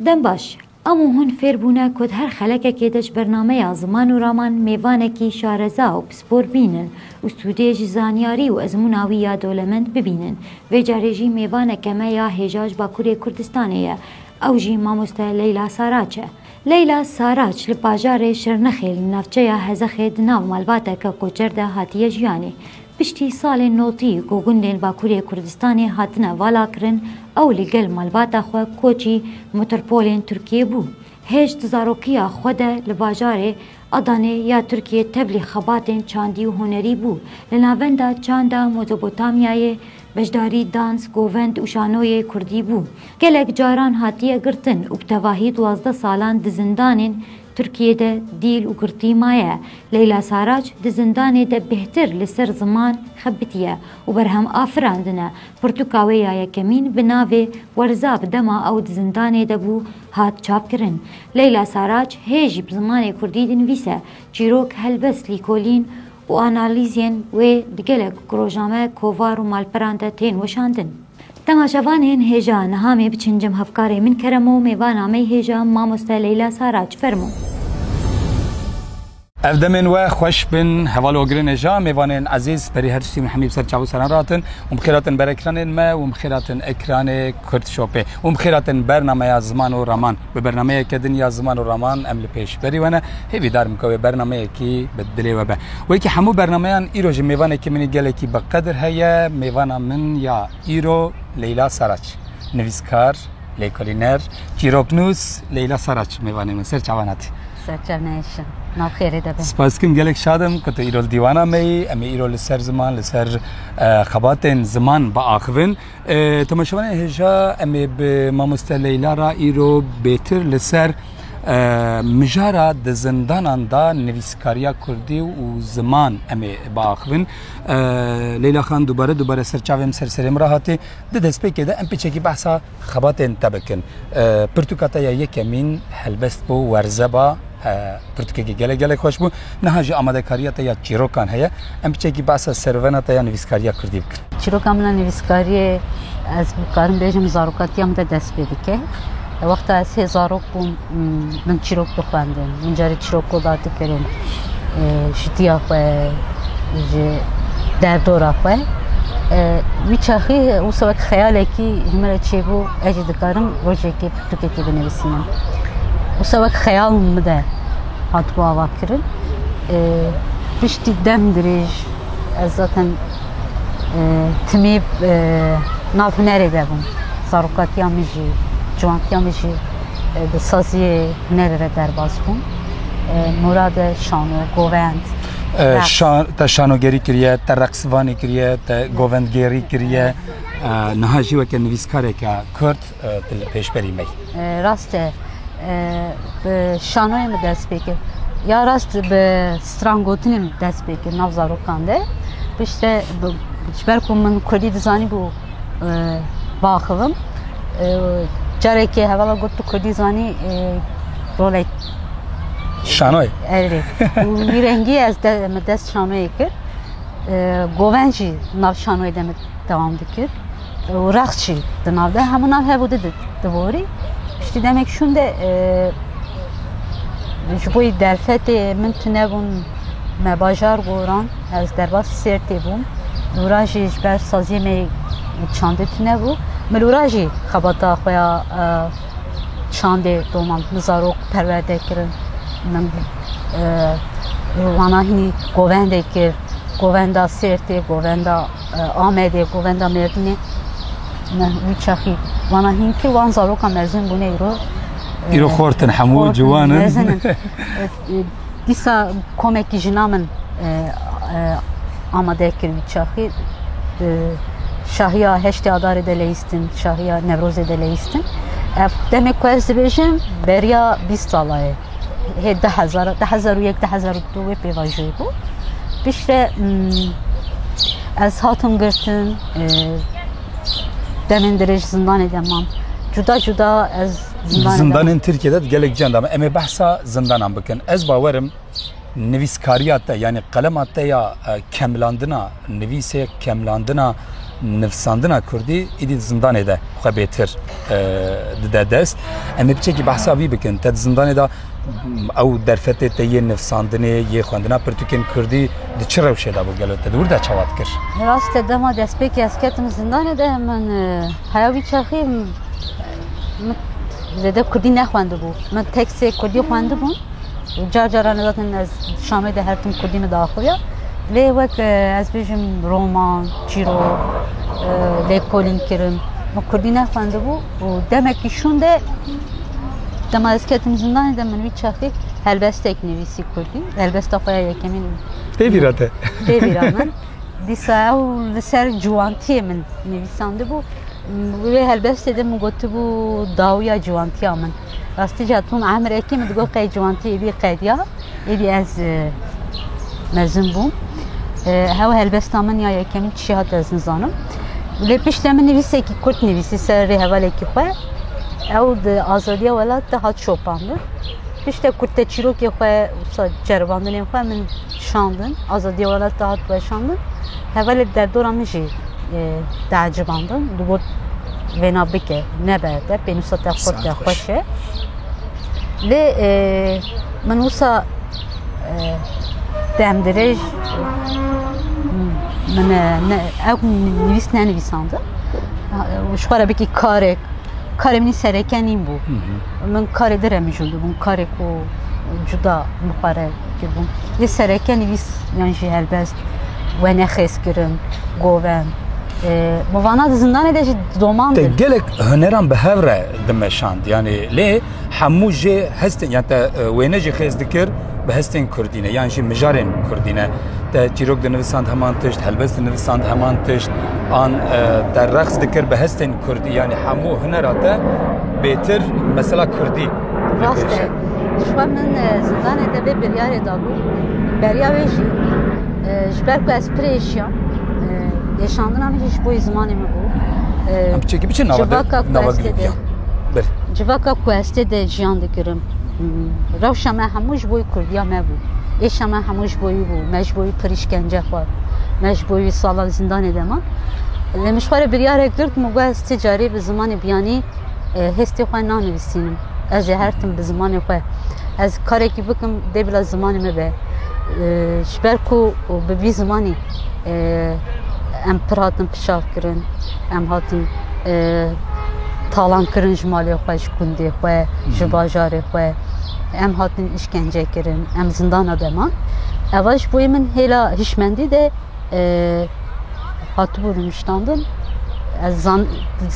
Dem baş, amo hûn fêr bûne ku di her xelekekê de ji bernameya ziman û raman mêvanekî şareza û pispor bînin û sûdê ji zanyarî û ezmûna wî ya dolemend bibînin. Vê carê jî mêvaneke me ya hêja ji Bakurê Kurdistanê ye, ew jî mamoste Leyla Saraç e. Leyla Saraç li bajarê Şirnexê li navçeya Hezexê di nav malbateke koçer de hatiye jiyanê. Piştî salên notî ku gundên Bakurê Kurdistanê hatine valakirin ew li gel malbata xwe koçî motorpolên Tirkiyê bû. Hêj di zarokiya xwe de li bajarê Adanê ya Tirkiyê tevlî xebatên çandî û hunerî bû. Li navenda çanda Mozopotamyayê beşdarî dans, govend û şanoyê kurdî bû. Gelek caran hatiye girtin û bi tevahî duwazdeh salan di zindanên Tirkiyê de dîl û girtî maye. Leyla Saraç di zindanê de bêhtir li ser ziman xebitiye û berhem afirandine. Pirtûka wê ya yekemîn bi navê Werza bi dema ew di zindanê de bû hat çapkirin. Leyla Saraç hê jî bi zimanê kurdî dinivîse, çîrok, helbest, lîkolîn û analîzên wê di gelek ku rojname, kovar û malperan de tên weşandin. Temaşevan ên hêja niha mê biçin cem hevkarê min Keremo mêvan amey hêja mamoste Leyla Saraç fermo. Ev demên we xweş bin heval ogirên hêja mêvanên ezîz berî her tiştî min hemî bi ser çav û seran ratin û bi xêr hatin ber ekranên me û bi xêr hatin ekranê Kurdshopê û bi xêr hatin bernameya ziman û raman. Bi bernameyeke din ya ziman û raman em li pêşberî we ne. Hêvî dar bim ke wê bernameyekî bi dilê we be. Wekî hemû bernameyan îro jî mêvanekî min ê gelekî bi qedir heye. Mêvana min ya îro Leyla Saraç. Nivîskar, lêkolîner, çîroknûs Leyla Saraç mêvanê min. Ser çavan hatî? Ser çavan hêşin. Nav xêrê de be. Spas dikim gelek şad im ku tu îro li dîwana me yî. Em ê îro li ser ziman, li ser xebatên ziman biaxivin. Tomaşevanê hêja em ê bi Mamoste Leyla ra îro bêtir li ser mijara di zindanan da nivîskariya kurdî û ziman em ê biaxivin. Leyla Xan dubare dubare ser çavêm ser serê min ra hatê. Di destpêkê de em pêçekî behsa xebatên te bikin. Pirtûka te ya yekemîn helbest bo werzeba. Pirtûkeke gelek gelek xweş bû. Niha jî amadekariya te ya çîrokan heye. Em piçekî behsa serûvena te ya nivîskariya kurdî bikin. Çîroka min a nivîskariyê ez dikarim bêjim zarokatiya min de dest pê dike. Wexta ez hê zarok bûm min çîrok dixwendim. Min carî çîrok koda dikirin ji tiya xwe ji derdora xwe. Wî çaxî wisa wek xeyalekî ji min re çêbû ez jî dikarim rojekê Tirkekê binivîsînim. Wisa wek xeyal min de hatibû avakirin. Piştî dem dirêj ez zaten timî nav hunerê de bûm. Zarokatiya min jî, ciwantiya min jî di saziyê hunerê de derbas bûm. Murade şano, govend. Te şanogerî kiriye, te reqsivanê kiriye, te govendgêrî kiriye. Niha jî weke nivîskareke Kurd tu li pêşberî me yî. Rast e bi şanoyê min dest pê kir ya rast bi stran gotinê min dest pê kir nav zarokan de pişte ji ber ku min kurdî dizanî bû biaxivim carekê hevala got tu kurdî zanî rolek Şanoy. Evrê. Wî rengî ez de me dest şanoyê kir. Goven jî nav şanoyê de me dewam dikir. û rext jî di nav de hemû nav hev û di di borî piştî demek şûn de ji bo yî derfetê min tunebûn me bajar goran ez derbas sêrtê bûm lûra jî ji ber saziyê me çandê tunebû min lûra jî xebata xwe ya çandê doman min zarok perwerde kirin min wana hînî govendê kir govenda sêrtê govenda Amedê, Govenda Mêrdînê me wî çaxî wana hînkî wan zaroka mezin bûne îro. Îro xortin hemû ciwan in. Mezin in. Dîsa komekî jina min amade kir wî çaxî şahiya heştê adarê de leyîstin, şahiya Newrozê de leyîstin. Ev demê ku ez dibêjim beriya bîst sala ye. hê du hezar du hezar û yek du hezar û du wê pêvajoyê bû piştre ez hatim girtin demên dirêj zindanê de mam cuda cuda ez zindanên Tirkiyede gelek ciyan dame em ê behsa zindanan bikin ez bawerim Nivîskariya te yanî qelema te ya kemlandina nivîsê, kemlandina nivsandina Kurdî îdî di zindanê de xwe bêtir dide dest. Em ê piçekî behsa wî bikin. Te di zindanê de ew derfetê te yê nivsandinê, yê xwendina pirtûkên Kurdî di çi rewşê de bû gelo te di wir de çawa dikir? Rast e dema destpêkê ez ketim zindanê de min heya wî çaxî min zêde Kurdî nexwendibû. Min teksê Kurdî xwendibûn. Car caran ez zaten ez Şamê de her tim Kurdî min daxuya. Lê wek ez bêjim roman, çîrok, lêkolîn kirim. Min Kurdî nexwendibû û demekî şûn de dema ez ketim zindanê de min wî çaxê helbestek nivîsî Kurdî. Helbesta xwe ya yekemîn pê vîra te. Pê vîra min. Dîsa ew li ser ciwantiyê min nivîsandibû. Wê helbestê de min gotibû dawiya ciwantiya min. Rastî jî Tom Emrekî min digot qey ciwantî êdî qediya, êdî ez mezin bûm. Hew helbesta min ya yekemîn tişî hat ez nizanim. Lê piştê min nivîsekî kurt nivîsî ser rê hevalekî xwe. Ew di azadiya welat de hat şopandin. Piştê kurte çîrokê xwe ceribandinên xwe min şandin. Azadiya welat de hat weşandin. Hevalê derdora min jî teecibandin. Digot wêna bike nebe te pênûsa te xwe te xweş e lê min wisa demdirêj min ew nivîs nenivîsandin ji xwe re bikî karek karê min sereke nîn bû min karê dire min jû dibûn karê ku cuda min xwe re kirbûn lê sereke nivîs yan jî helbest wenexêz kirin, govend. Bi vana di zindanê de jî domandin. Te gelek huneran bi hev re dimeşand. Yanî lê hemû jê hestên yan te wêne jî xêz dikir bi hestên Kurdî ne yan jî mijarên Kurdî ne. Te çîrok dinivisand heman tişt, helbest dinivisand heman tişt an te reqs dikir bi hestên Kurdî yanî hemû hunera te bêtir mesela Kurdî. Rast e. Jixwe min zindanê te vê biryarê dabû. Beriya wê jî ji ber ku ez pirê şiyam. Yeşandina min jî ji bo yê zimanê min bû. Em çekî biçin nava nava gilê Civaka ku ez tê de jiyan dikirim. Rewşa me hemû ji bo Kurdiya me bû. Êşa me hemû ji bo wî bû. Me ji bo wî pir îşkence xwar. Me ji bo wî salek zindanê de man. Lê min ji xwe re biryarek girt min got ez ti carî bi zimanê biyanî Hestê xwe nanivîsînim. Ez ê her tim bi zimanê xwe. Ez karekî bikim dê bila zimanê me be. Ji ber ku bi vî zimanî em pir hatin pişak kirin, em hatin talan kirin ji malê xwe, ji kundê xwe, ji bajarê xwe. Em hatin îşkence kirin, em zindana de man. Eva ji bo min hêla hişmendî de hatibû nûştandin ez zan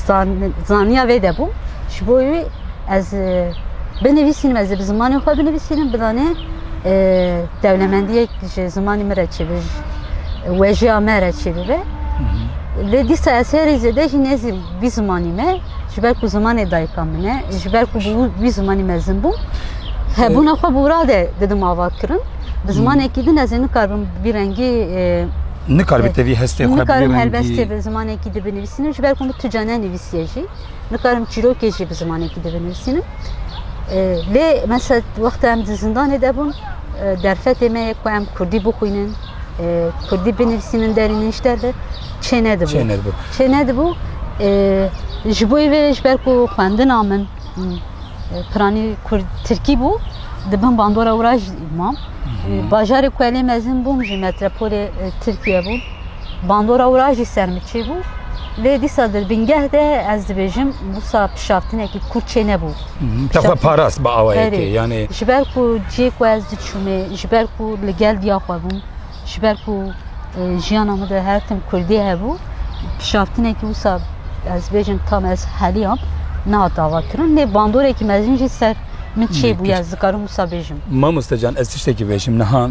zan zaniya vê de bû ji bo wî ez binivîsînim ez bi zimanê xwe binivîsînim bidanê dewlemendiyek ji zimanê min re çêbe ji wejiya me re çêbibe lê dîsa ez herî zêde jî nêzî bî zimanî me Ji ber ku zimanê dayika min e, ji ber ku bi wî zimanî mezin bûm, hebûna xwe bi wira de didim ava kirin. Bi zimanekî din ez ê nikarbim bi rengî Nikarbî te vî hestê xwe Nikarim helbestê bi zimanekî di binivîsînim ji ber ku min tuca ne nivîsiye jî. Nikarim çîrokê jî bi zimanekî di binivîsînim. Lê mesela wexta em di zindanê de bûn derfetê me ye ku em Kurdî bixwînin. Kurdî binivîsî min derî min ji derve çênedibû. Çênedibû ji bo vê ji ber ku xwendina min piranî kurd tirkî bû di bin bandora wira jî mam. Bajarê ku elê mezin bûm ji metropolê Tirkiye bû. Bandora wira jî ser min çêbû. Lê dîsa di bingeh de ez dibêjim wisa pişavtinekî kurd çênebû. Te xwe parast bi awayekê yanê. Ji ber ku cê ku ez diçûmê ji ber ku li gel diya xwe bûm ji ber ku jiyana min de her tim Kurdî hebû pişaftinekî wisa ez bêjim tam ez heliyam nehat ava kirin nê bandoreke mezin jî ser min çêbûye ez dikarim wisa bêjim. Mamoste can ez tiştekî bêjim niha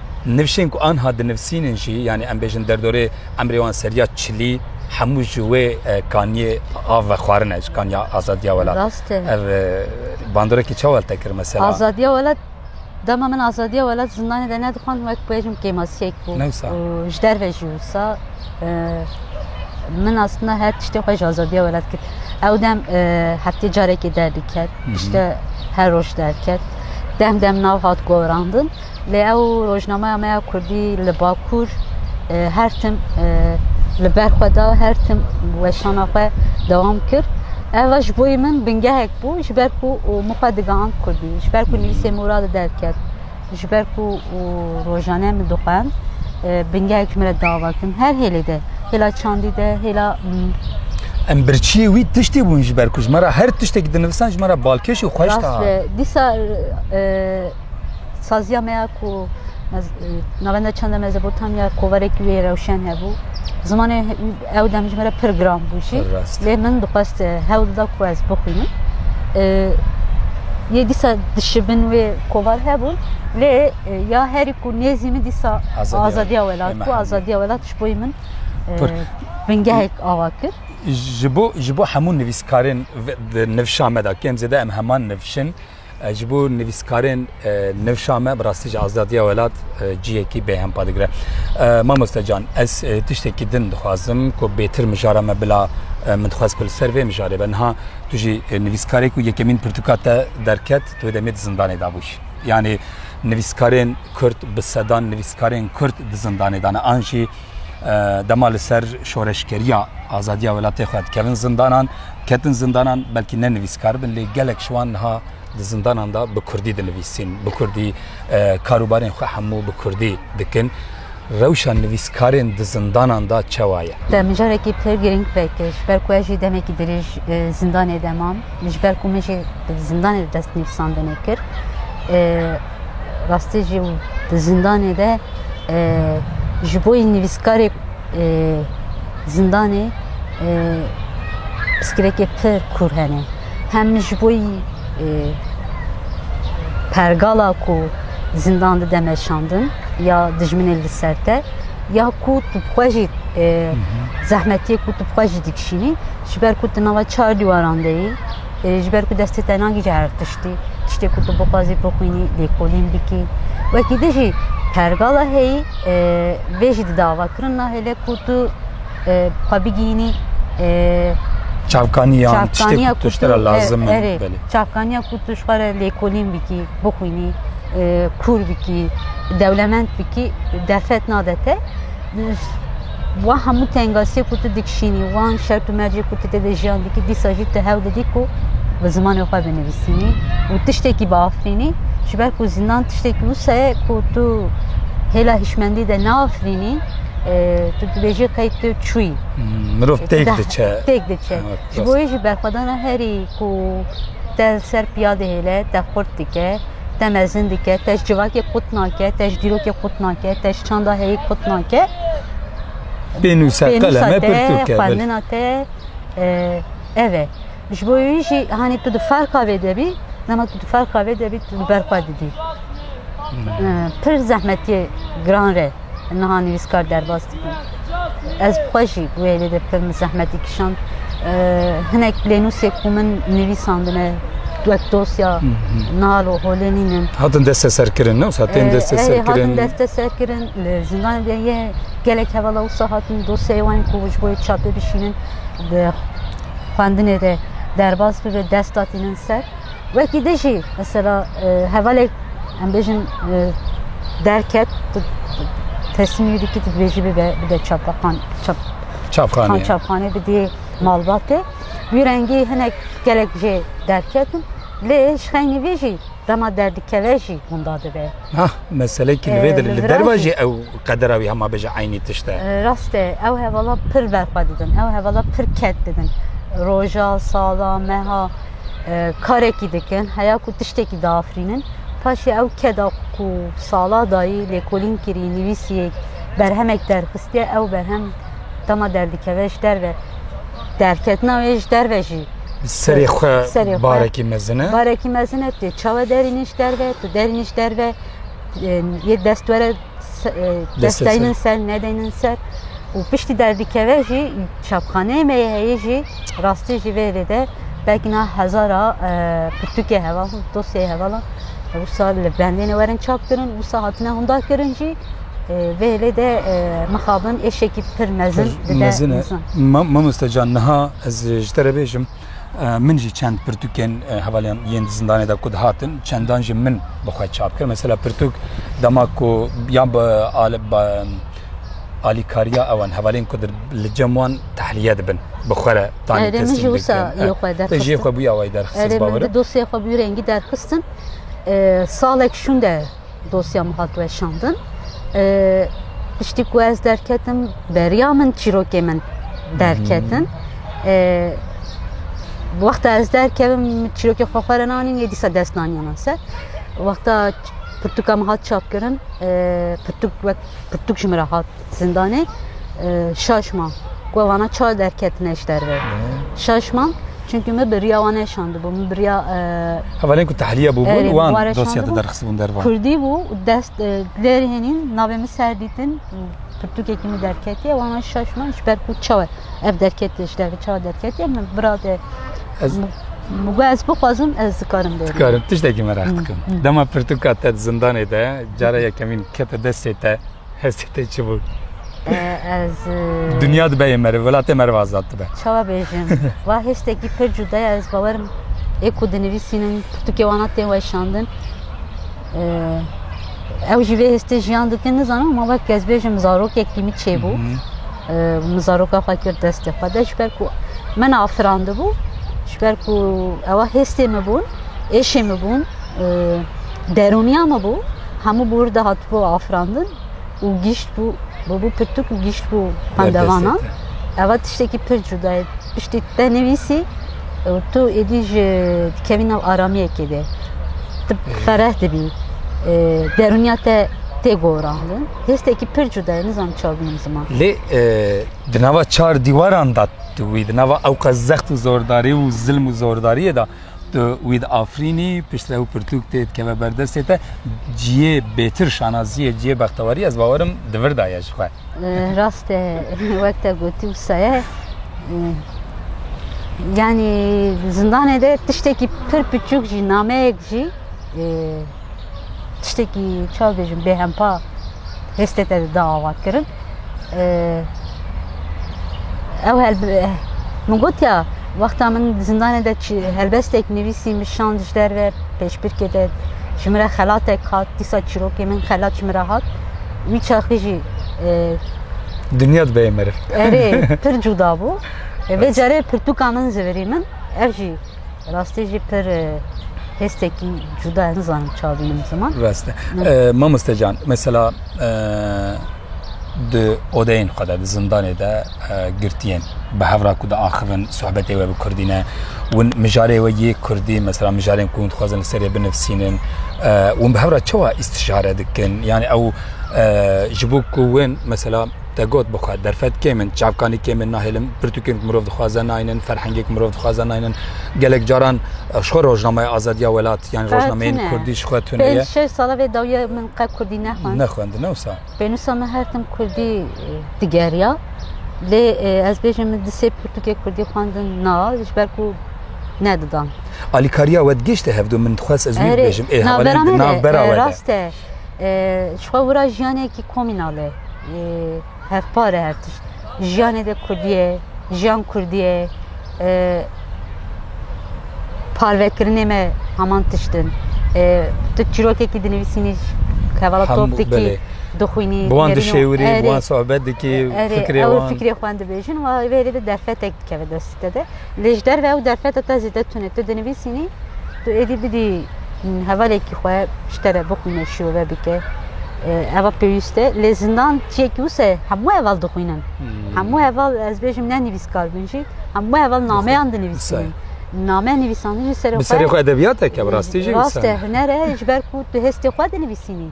Nivşên ku anha dinivsînin jî yanî em bêjin derdorê emrê wan seriya çilî hemû ji wê kaniyê av vexwarin e ji kaniya azadiya welat. Rast e. Ev bandorekî çawa li te kir mesela? Azadiya welat dema min azadiya welat zindanê de nedixwand wek bêjim kêmasiyek bû. Newsa. Û ji derve jî wisa min aslında her tiştê xwe ji azadiya welat kir. Ew dem heftê carekê derdiket, tişte her roj derket. Dem dem nav hat gorandin. Lê ew rojnameya me ya kurdî li Bakur her tim li ber xwe da, her tim weşana xwe dewam kir. Ev ji bo min bingehek bû ji ber ku min xwe digihand kurdî, ji ber ku nivîsê min radi derket, ji ber ku rojane min dixwend. Bingehek ji min re dava kirin her hêlê de, hêla çandî de, hêla Em birçiyê wî tiştê bûn ji ber ku ji me re her tiştekî dinivisan ji me re balkêş û xweş da. Dîsa Saziya me ya ku navenda çanda Mezopotamya ya kovarekî wê rewşen hebû. Zimanê ew dem ji me re pir giran bû jî. Lê min dixwest hewl da ku ez bixwînim. Yê dîsa dişibin wê kovar hebûn. Lê ya herî ku nêzî min dîsa azadiya welat bû. Azadiya welat ji bo min bingehek awa kir. Ji bo hemû nivîskarên di nivşa me de kêm zêde em heman nivşin. Ji bo nivîskarên newşa me bi rastî ji azadiya welat ciyekî bê hempa digire. Mamoste can ez tiştekî din dixwazim ku bêtir mijara me bila min dixwaz ku li ser vê mijarê be niha tu jî nivîskarê ku yekemîn pirtûka te derket tu wê demê di zindanê de bûyî. Yanî nivîskarên Kurd bi sedan nivîskarên Kurd di zindanê de ne an jî dema li ser şoreşkeriya azadiya welatê xwe dikevin zindanan ketin zindanan belkî ne nivîskar bin lê gelek ji wan niha di zindanan da bi kurdî dinivîsîn bi kurdî karûbarên xwe hemû bi kurdî dikin rewşa nivîskarên di zindanan da çewa ye te min carekî pir girîng vekir ji ber ku ez jî demekî dirêj zindanê de mam ji ber ku min jî zindanê de destnivîsandinê kir Rastî jî di zindanê de ji bo yî nivîskarê zindanê piskirekê pir kûr hene. Hem ji bo yî pergala ku zindan dide meşandin ya dijminê li ser te ya ku tu bi xwe jî zehmetiyê ku tu bi xwe jî dikişînî ji ber ku tu nava çar dîwaran de yî ji ber ku destê te nagihîje her tiştî, tiştê ku tu bixwazî bixwînî lêkolîn bikî. Wekî din jî pergala heyî vê jî di davakirin nahêle ku tu xwe bigihînî çavkaniyan tiştê ku tu ji te re lazim in. Erê çavkaniya ku tu ji xwe re lêkolîn bikî, bixwînî, kûr bikî, dewlemend bikî, derfet nade te. Wan hemû tengasiyê ku tu dikişînî, wan şert û mercê ku tu têde jiyan dikî, dîsa jî tu hewl didî ku bi zimanê xwe binivîsînî û tiştekî biafirînî. Ji ber ku zindan tiştekî wisa ye ku tu hêla hişmendî de neafirînî, tu dibêjî qey tu çûyî. Mirov têk diçe. Têk diçe. Ji bo yê jî berxwedana herî ku te li ser piya dihêle, te xurt dike. te mezin dike, te ji civakê qut nake, te ji dîrokê qut nake, te ji çanda heyî qut nake. Pênûsa te, pênûsa te, xwendina te ev e. Ji bo wî jî hanî tu di ferqa vê de bî, dema tu di ferqa vê de bî tu li ber xwe didî. Pir zehmetiyê giran re. Niha nivîskar derbas dibû. Ez bi xwe jî wê lê de pir min zehmetî kişand. Hinek plênûsê ku min nivîsandine wek dosya nalo holê nînin. Hatin desteserkirin ne wisa tên desteserkirin. Hatin desteserkirin li zindanê de yê gelek hevala wisa hatin dosyayê wan ku ji bo yê çapê bişînin xwendinê de derbas bibe dest datînin ser. Wekî din jî mesela hevalek em bêjin derket tu tesmîmî dikî tu dibêjî bibe bide çapaxan çap Çapxanê. çapxanê bidî malbatê. Wî rengî hinek gelek jê derketin. Lê ji xeynî vê jî dema derdikeve jî hûnda dibe. Ha meselekî li vê de li Li derva virajê. jî ew qedera wî hema bêje eynî tişt e. Rast e ew hevala pir berxwe didin. Ew hevala pir ket didin. Roja, sala, meha karekî dikin heya ku tiştekî diafirînin paşê ew keda ku sala dayî lêkolîn kirî nivîsiyek berhemek derxistiye ew berhem dema derdikeve ji derve derketina wê ji derve jî serê xwe barekî mezine barekî mezine tê çawe derînî ji derve tu derînî ji derve yê dest were dest deynin ser nedeynin ser û piştî derdikeve jî çapxaneyê me yê heyî jî rastî jî vê hêlê de belkî niha hezara pirtûkê heval in dosyeyê heval in wisa li bendêne werin çap kirin wisa hatine hûnda kirin jî vê hêlê de mixabin êşekî pir mezin dide mezin. Mamoste can niha ez ji te re bêjim Min jî çend pirtûkên hevalên yên di zindanê de ku dihatin çendan jî min bi xwe çap kir. Mesela pirtûk dema ku yan bi alîkariya ewan hevalên ku li cem wan tehliye dibin bi xwe re tanî jê xwe bûya wayî derxistin. Dosyê xwe bû rengî derxistin salek şûnde Dosya min hat weşandin. Piştî ku ez derketim beriya min çîrokê min derketin. Wexta ez derkevim çîrokê xwe xwe re nanîn yê dîsa dest nanî min ser. Wexta pirtûka min hat çapkirin pirtûk wek pirtûk ji min re hat Zindanê Şaşma ku ev ana çar derketine ji derve. Şaşma çünkü min bi riya wan neşandibû. Min bi riya Hevalên ku tahliye bûbûn wan dosya te derxistibûn dervan. Kurdî bû û dest lêr hênîn navê min ser dîtin pirtûkekî min derketiye wan an şaşma ji ber ku çawe ev derketiye ji derve çawe derketiye min bira te Mugo ez bixwazim ez dikarim bêrim. Dikarim tiştekî merak dikim. Dema pirtûka te di zindanê de cara yekemîn kete destê te Hestê te çi bû? Ez Dinya dibe yê meriv, welatê meriv azad dibe. Çawa bêjim? Va hestekî pir cuda ye ez bawerim ê ku dinivîsînim pirtûkê wana tên weşandin. Ew jî vê hestê jiyan dikin nizanim ma wek ez bêjim zarokekî min çêbû. Min zaroka xwe kir destê xwe de ji ber ku min afirandibû ji ber ku ewa hestê min bûn, êşê min bûn. Derûniya min bû, hemû bor de hatibû afirandin û gîştbû, bûbû pirtûk û gîştbû xwendevanan. Eva tiştekî pir cuda ye. Piştî tu te nivîsî û tu êdî ji dikevî nav aramiyekê de. Tu fereh dibî. Derûniya te tê gorandin. Hêstekî pir cuda ye, nizanim çawa bînim ziman. Lê di nava çar dîwaran de tu wî, di nava ewqas zext û zordarî û zilm û zordariyê de, Tu wî di afrînî piştre û pirtûk tê dikeve ber destê te ciyê bêtir şanaziyê ciyê bextewarî ez bawerim di vir da ye ji xwe. Rast e wek te gotî wisa ye. Yani zindanê de tiştekî pir piçûk jî nameyek jî tiştekî çawa bêjim bêhempa hêstê te da avatkirin ew min gotiya wexta min zindanê de helbestek nivîsî min şand ji derve pêşbirkê de ji min re xelatek hat dîsa çîrokê min xelat ji min re hat wî çaxî jî dinya dibeyê meriv erê pir cûda bû vê carê pirtûka min zivirî min ev jî Rastî jî pir hêstekî cuda ye nizanim ça bînim ziman. Rast e. Mamoste can mesela di odeyên xwe de di zindanê de girtiyên bi hevra ku di axivin sohbetê we bi kurdî ne win mijarê we yê kurdî mesela mijarên ku hûn dixwazin li serê binivsînin win bi hevra çawa îstişare dikin yanî ew ji bo ku win mesela Te got bi xwe, derfet kêm in, çavkanî kêm in, nahêlin pirtûkên ku mirov dixwaze naynin, ferhengê ku mirov dixwaze naynin. Gelek caran ji xwe rojnameya azadiya welat yanî rojnameyên kurdî ji xwe tune ye. Pênc şeş sala vê dawiya min qe kurdî nexwend. Nexwendin ne wisa. Pênûsa min her tim kurdî digeriya. Lê ez bêjim min di sê pirtûkê kurdî xwendin na ji ber ku nedidan. Alîkariya we digihîşte hevdû min dixwest ez wî bibêjim. Ê hevalên di nav bera we de. Ji xwe wira jiyanekî komînal e, hevpar e her tişt. Jiyanê de Kurdî ye, jiyan Kurdî ye. Parvekirinê me heman tişt in. Tu çîrokekî dinivîsînî hevala top dikî, dixwînî. Bi wan dişêwirî, bi wan sohbet dikî, fikrê wan. Fikrê xwe dibêjin, wê hêdî de derfetek dikeve destê te de. Lê ji derve ew derfeta te zêde tune. Tu dinivîsînî, tu êdî bidî hevalekî xwe ji te re bixwîne, şirove bike. Eva pêwîst e. Lê zindan ciyekî wisa ye. Hemû heval dixwînin. Hemû heval ez bêjim ne nivîskar bin jî. Hemû heval nameyan dinivîsînin. Name nivîsandin ji serê xwe. Bi serê xwe edebiyat e ke bi rastî jî wisa ye. Rast e, huner e ji ber ku tu hestê xwe dinivîsînî.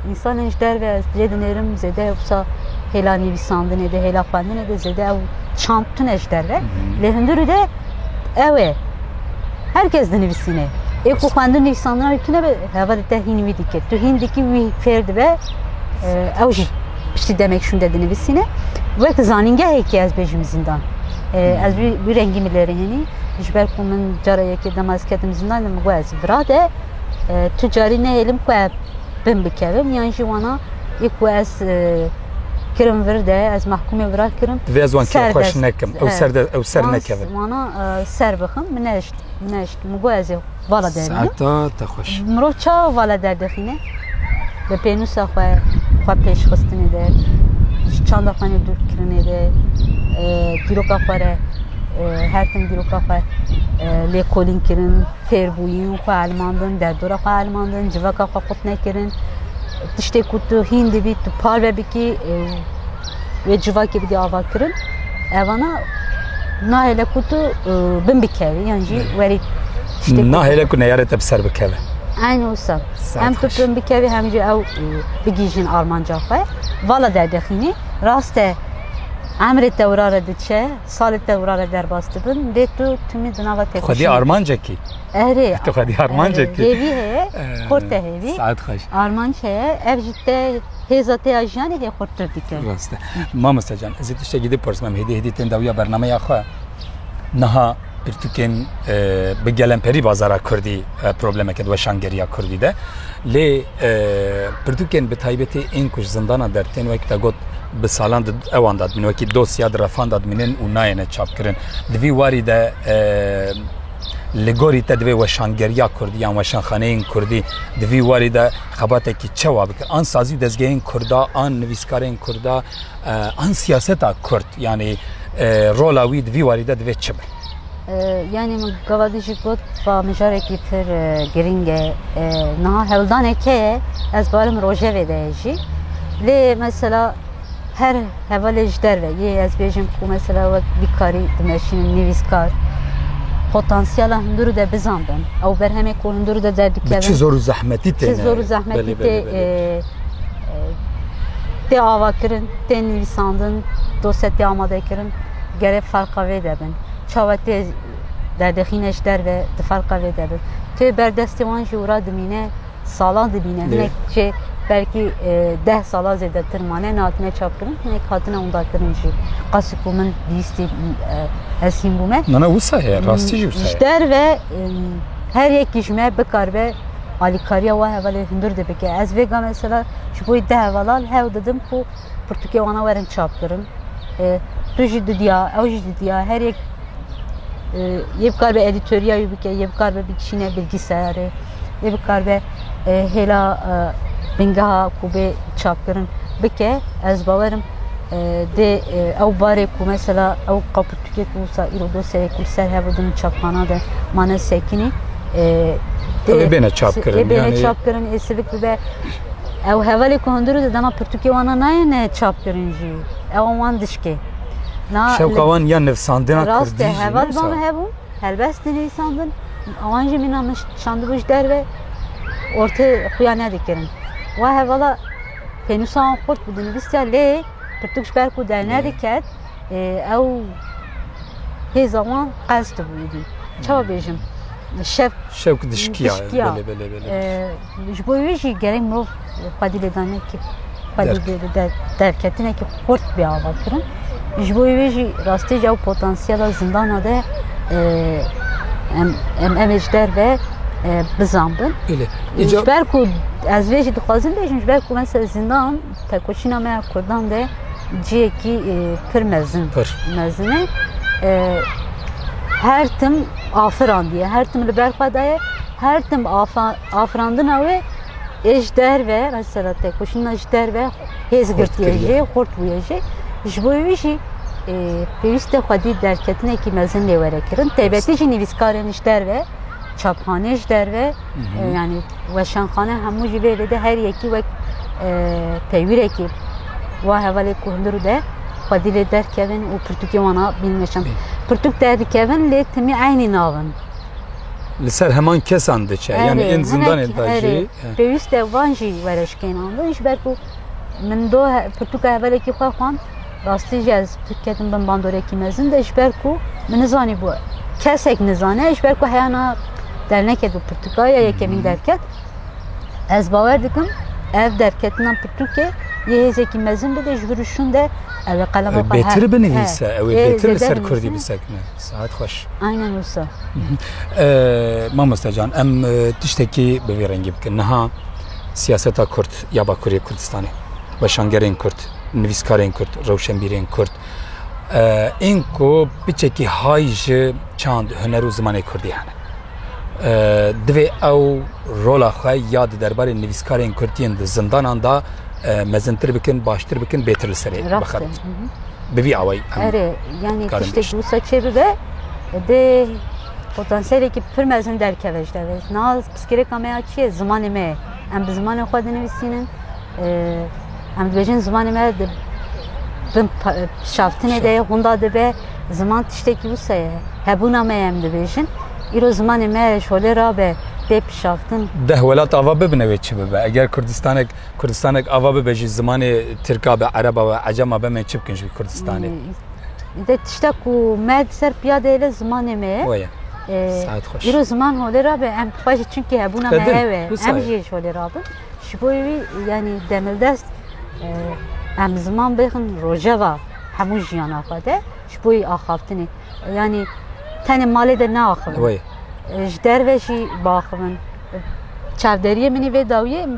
însanên ji derve ez lê dinêrim zêde wisa hêla nivîsandinê de hêla xwendinê de zêde ew çand tune ji derve lê hundirû de ew ê her kes dinivîsînê ê ku xwendin nivîsandina wî tune be heva te hîn wî dikir tu hîn dikî wî fêr dibe ew jî piştî demek şûnde dinivîsîne wek zanîngehekî ez bêjim zîndan ez wî rengî min lêrê hênî ji ber ku min cara yekê dema ez ketim zîndan min got ez birade Tu carî nehêlim ku ev bin bikevin yan jî wana yê ku ez kirim vir de ez mehkûmê vira kirim. Divê ez wan kêr xweş nekim. Ew ser de ew ser nekevin. Wana ser bixim min neişt min neişt min got ez ê vala derînim. Saeta te xweş. Mirov çawa vala derdixîne? Bi pênûsa xwe xwe pêşxistinê de ji çanda xwe nê dûr kirinê de dîroka xwe re her tim dîroka xwe lêkolîn kirin. Fêrbûyîn, xwe elmandin, derdora xwe elmandin, civaka xwe qut nekirin. Tiştê ku tu hîn dibî, tu parve bikî û wê civakê bidî avakirin. Evana nahêle ku tu bin bikevî yan jî werî Nahêle ku neyarê te bi ser bikeve. Eyn wisa. Hem tu bin bikevî hem jî ew bigihîjin armanca xwe. Vala derdexînî rast e emrê tewra re diçe. Salê te wira re derbas dibin, lê tu timî di nava têkoşînê Xwedî armancekî. Erê. Tu xwedî armancekî. Hêvî heye, xurt te hêvî. Saet xweş. Armanc heye, ev ji te hêza te ya jiyanê hê xurttir dike. Rast e. Mamoste can, ez ê tiştekî dê bipirsm, em hêdî hêdî tên dawiya bernameya xwe. Niha pirtûkên bi gelemperî bazara Kurdî problemeke di weşangeriya Kurdî de. Lê Pirtûkên bi taybetî ên ku ji zindana der tên wek te got bi salan di ewan de dimînin wekî dosya di refan de dimînin û nayêne çapkirin. Di vî warî de li gorî te divê weşangeriya Kurdî yan weşanxaneyên Kurdî di vî warî de xebatekî çewa bikir an sazî û dezgehên Kurda an nivîskarên Kurda an siyaseta Kurd yanî rola wî di vî warî de divê çi be? Yanî min gavadî jî got ba mijarekî tir girîng e. Niha hewldanê ke ye ez barim rojevê de ye jî. Lê mesela her hevalê ji derve yê ez bêjim ku mesela wek bîkarî dimeşînin nivîskar potansiyela hundirû de bizan bin. Ew berhemê ku hundirû de derdikevin. Çi zor û zehmetî tê. Çi zor û zehmetî tê tê avakirin, tê nivîsandin, dosye tê amadekirin. Gerê ferqa vê de bin. Çawa tê derdixîne ji derve di ferqa vê de bin. Tê ber destê wan jî wira dimîne, salan dimîne. Hinek jê belkî e, deh sala zêdetir mane nehatine çapkirin, hinek hatine unda kirin jî. Qasî ku min bîstî e, ez hîn bûme. Nana wisa ye, rastî jî wisa ye. Ji derve e, her yekî ji me bikaribe alîkariya wa hevalê hundir dibike. Ez vêga mesela ji bo deh hevalal hewl didim ku Pirtûkê wan a werin çap kirin. Tu jî didiya, ew jî didiya, her yek yê bikar be edîtoriya wî bike, yê bikar be bikişîne bilgîsayarê, yê bikar be hêla bingeha ku bê çapkirin bike. Ez bawerim dê ew barê ku mesela ew qapirtûkê ku wisa îro dosyayê ku li ser hev din çapxana de mane sekinî. Dê bêne çapkirin. Dê bêne çapkirin, ê sivik bibe. Ew hevalê ku hundir û di dema pirtûkê wan a nayêne çapkirin jî ew wan dişkê. Şewka wan ya nivsandina Kurdî jî heval van hebû, helbest dinivîsandin, wan jî mîna min şandibû ji derve ortê xuya nedikirin. Wa hevala pênûsa wan xurt bi dinivîstiya lê pirtûk ji ber ku dernediket ew hêza wan qels dibû êdî. Çawa bêjim? Şev şewk dişkiya. Belê belê belê. Ji bo wê jî gerek mirov xwedî lêdanekî xwedî derketinekî xurt bê avakirin. Ji bo wê jî rastî ew potansiyela zindana de em em em ê ji derve bizanbin. Ji ber ku ez vê jî dixwazim bêjim ji ber ku mesela zindan tekoşîna me ya Kurdan de ciyekî pir mezin mezin e. Her tim afirandiye, her tim li ber xwe daye. Her tim afirandina wê ê ji derve mesela têkoşîna ji derve hêz girtiye jê, xurt bûye jê. Ji bo wî jî pêwîst e xwedî derketinekî mezin lê were kirin. Taybetî jî nivîskarên ji derve, çapxanê ji derve yanî weşanxane hemû jî vê lê de her yekî wek peywîrekî wa hevalê ku hundir de xwedî lê derkevin û pirtûkê wana bînin weşan. Pirtûk derdikevin lê timî eynî nabin. li ser heman kesan diçe yani ên zindanê da jî pêwîst e van jî were ji kêna min ji ber ku min do pirtûka hevalekî xwe xwand rastî jî ez ketim bin bandorekî mezin de ji ber ku min nizanî bû kesek nizane ji ber ku heyana derneket û pirtûka ya yekemîn derket ez bawer dikim ev derketina pirtûkê yê hêzekî mezin bide ji vir û şûn de ew ê qelema xwe bêtir binivîse ew ê bêtir li ser kurdî bisekine Saet xweş. Aynen wisa. Mamoste can em tiştekî bi vî rengî bikin. Niha siyaseta Kurd ya Bakurê Kurdistanê, weşangerên Kurd, nivîskarên Kurd, rewşenbîrên Kurd ên ku piçekî hay ji çand, huner û zimanê Kurdî hene. Divê ew rola xwe ya di derbarê nivîskarên Kurd yên di zindanan de mezintir bikin, baştir bikin, bêtir li serê bixin. bi vî awayî em Erê yanî Karin tiştê Beşt. dûsa çê bibe dê potansiyelikî pir mezin derkeve ji devê. Na piskirêka me ya çi ye? Zimanê me ye. Em bi zimanê xwe dinivîsînin. Eh, Em dibêjin zimanê me di bin pa- eh, şaftinê de ye, hûnda dibe. Ziman tiştekî wisa ye. Hebûna me ye em dibêjin. Îro zimanê me ji holê rabe dê pişaftin. deh welat ava bibine wê çi bibe. Eger Kurdistanek Kurdistanek ava bibe jî zimanê Tirka be, Ereba be, Ecema be me çi bikin ji vî Kurdistanê? De tişta ku me di ser piya de hêle zimanê me ye. Weye. Saet xweş. Îro ziman holê ra be em xwe jî çimkî hebûna me Te din, hev e. wisa Em ye. jî ji holê ra bin. Ji bo wî yanî demildest eh, em ziman bêxin rojeva hemû jiyana xwe de ji bo wî axaftinê. Yanî tenê malê de neaxivin. Weye. Ji derve jî biaxivin. Çavderiyê min î vê dawiyê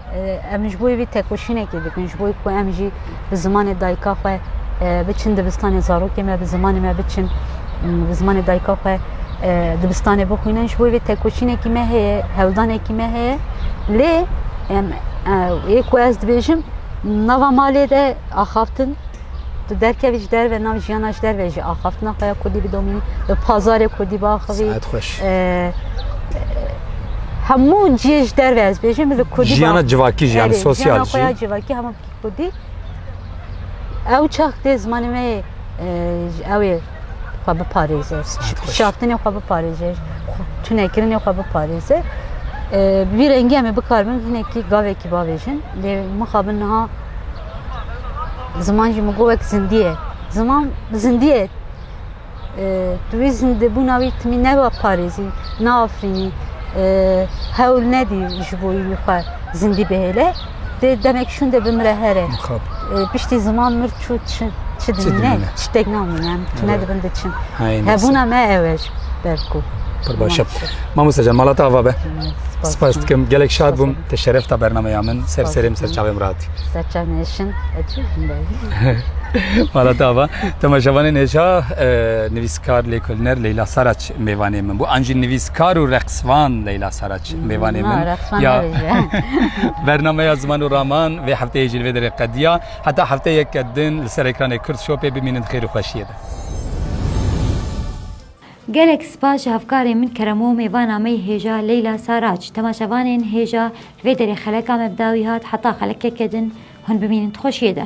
Em ji bo vî têkoşînekê dikin ji bo ku em jî bi zimanê dayika xwe biçin dibistanê zarokê me bi zimanê me biçin bi zimanê dayika xwe dibistanê bixwînin ji bo vê têkoşînekî me heye hewldanekî me heye lê em ê ku ez dibêjim nava malê de axaftin Tu derkevî ji derve nav jiyana ji derve jî axaftina xwe ya Kurdî bidomî, bi pazarê Kurdî biaxivî. Saet xweş. Hemû ciyê ji derve ez bêjim bi Kurdî. Jiyana civakî jî yani sosyal jî. Jiyana civakî hemû Kurdî. Ew çax dê zimanê me ew ê xwe biparêze. Şaftinê xwe biparêze. Tunekirinê xwe biparêze. Vî rengî em ê bikarin hinekî gavekî bavêjin. Lê mixabin niha Ziman jî min got wek zindî ye. Ziman zindî ye. Tu wî zindibûna wî timî neparêzî, neafirînî, hewl nedî ji bo wî xwe zindî bihêle. Dê demek şûnde bimire here. Piştî ziman mir çû çi dimîne? Tiştek namîne. Em tune dibin diçin. Hebûna me ew e. Berko. Pir başe. Mamosta can mala te ava be. Spas dikim. Gelek şad bûm. Te şeref ta bernameya min. Ser serêm ser çavêm rahatî. Ser çavên hêşin. Mala te ava. Temaşevanên hêşa nivîskar lêkolîner Leyla Saraç mêvanê min bû. An jî nivîskar û reqsvan Leyla Saraç mêvanê min. Ya bernameya ziman û raman vê hefteyê jî li vê derê qediya. Heta hefteyeke din li ser ekranê Kurd Shopê bimînin xêr û xweşiyê be. Gelek spas ji hevkarên min Keremomê va nameyê hêja Leyla Saraç temaşevanên hêja li vê derê xeleka me bi dawî hat heta xelekeke din hûn bimînin di xweşiyê de.